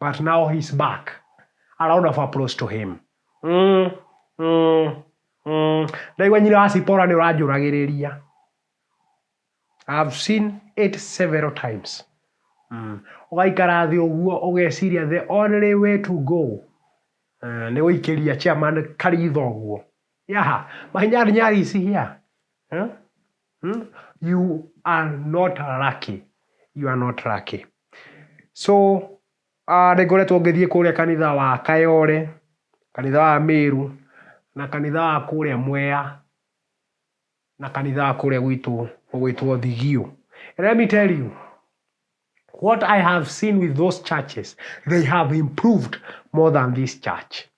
But now he's back. A round of applause to him. Mm, mm, mm. Ndaigua nyina wa Sipora nĩ ũranjũragĩrĩria. I have seen it several times. Mm. Ũgaikara thĩ ũguo ũgeciria the only way to go uh, nĩ gũikĩria chairman karitho ũguo. Yaha, my nyari nyari is here. Huh? You are not lucky. You are not lucky. So, ah, nĩ ngoretwo ngĩthiĩ kũrĩa kanitha wa Kayore, kanitha wa Mĩru, na kanitha wa kũrĩa Mwea, na kanitha wa kũrĩa gwitũ ũgwĩtwo Thigio. And let me tell you, what I have seen with those churches, they have improved more than this church.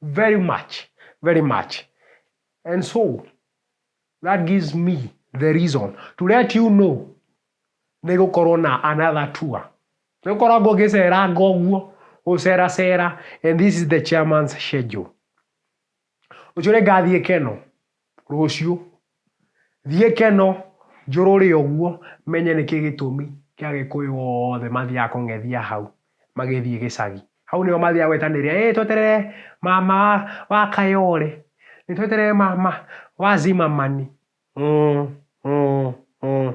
Very much, very much. And so, That gives me the reason to let you know nĩ gũkorwo na another tour. Nĩ ũkoragwo ũgĩceranga ũguo, gũceracera and this is the chairman's schedule. Rũciũ nĩ ngathiĩ Keno, rũciũ. Thiĩ Keno, njũrũre ũguo, menye nĩkĩ gĩtũmi kĩa Agĩkũyũ othe mathiaga kũng'ethia hau. magĩthiĩ gĩcagi. Hau nĩho mathiaga gwetanĩria, ĩĩ tweterere mama wa, wa Kayole, ĩĩ tweterere mama wa Zimmerman. Mm, mm, mm.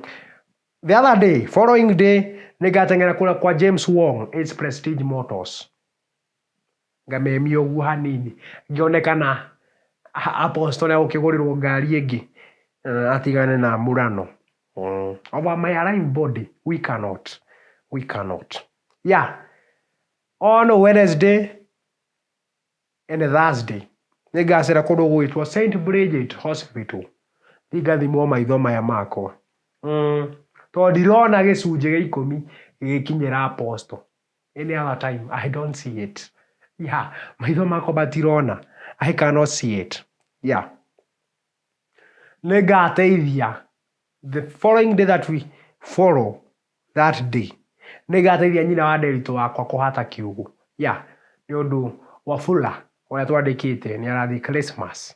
The other day, following day, nĩngateng'era kũrĩa kwa James Wong, Ace Prestige Motors. ngamemia ũguo hanini ngĩone kana apostle egũkĩgũrĩrwo ngari ĩngĩ eh, atigane na murano mm. over my alive body we cannot we cannot yeah on wednesday and thursday nĩ ngacĩra kũndũ gwĩtwo st bridget hospital thiĩ ngathimwo maitho maya makwa mm. tondũ ndirona gĩcunjĩ gĩa ikũmi gĩgĩkinyĩra apostle Any other time I don't see it yeah maitho makwa matirona I cannot see it yeah nĩngateithia the following day that we follow that day nĩngateithia nyina wa nderitũ wakwa kũhata kiugũ yeah nĩ ũndũ wafula ũrĩa twandĩkĩte nĩ arathiĩ christmas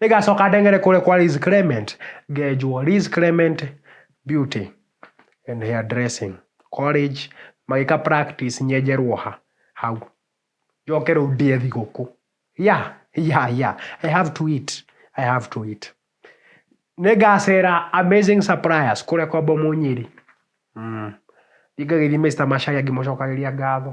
Nĩngacoka ndeng'ere kũrĩa kwa Liz Clement, ngenjwo Liz Clement Beauty and Hair Dressing College, magĩka practice nyenjerwo ha, hau. Njoke rĩu ndĩe thigũkũ. Yeah, yeah, yeah. I have to eat, I have to eat. Nĩngacera Amazing Suppliers kũrĩa kwa Bomũ Nyeri. Thiĩ ngagĩthiĩ Mister Macharia ngĩmũcokagĩria ngatho.